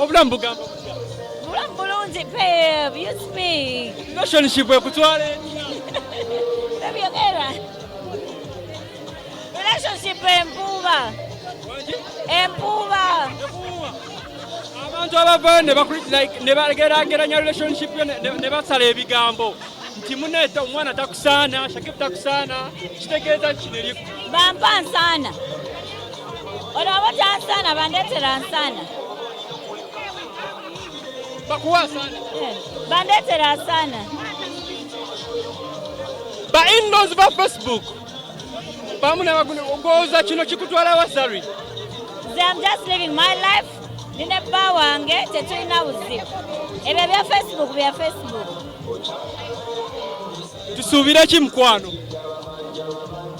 obulamu bugamba obulamu bulungi relationship ekutwala ebyogera relationship empuuba empuuba abantu abavayo nebagerageranya relationship yo ne basala ebigambo nti muneeta omwana takusaana shakib takusaana kitegeeza kineriku bampa nsaana Ono abaja nsana bandetera nsana. Bakuwa sana. Eh, bandetera sana. Ba indoors ba Facebook. Bamu na bagune ogoza kino kikutwala wasari. They am just living my life. Nine bba wange tetulina buzibu. Ebyo bya Facebook bya Facebook. tusuubire ki mukwano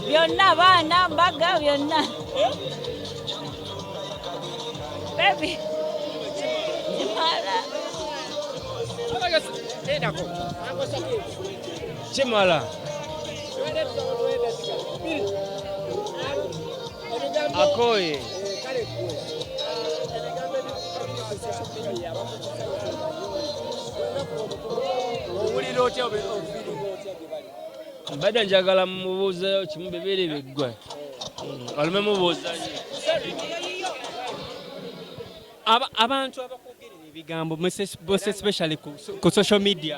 byonna baana mbaga byonna bebi kimala kimala akoye mbadde njagala mubuuzeyo kimu bibiri biggwe olume mubuuza abantu abakugerera ebigambo especially ku social media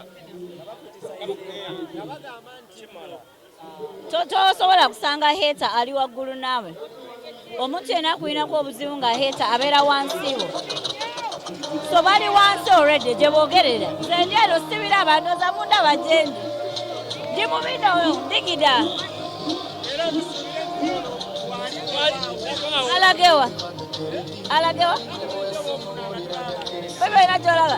tosobola kusanga heta ali waggulu naawe omuntu yena akulinako obuzibu nga heta abeera wansiwo so bali wansi olwedde gye boogerera zendi eno sibira abantu oza munda bajendi ndi mu bino ndigida alagewa alagewa bebe olina gyolaba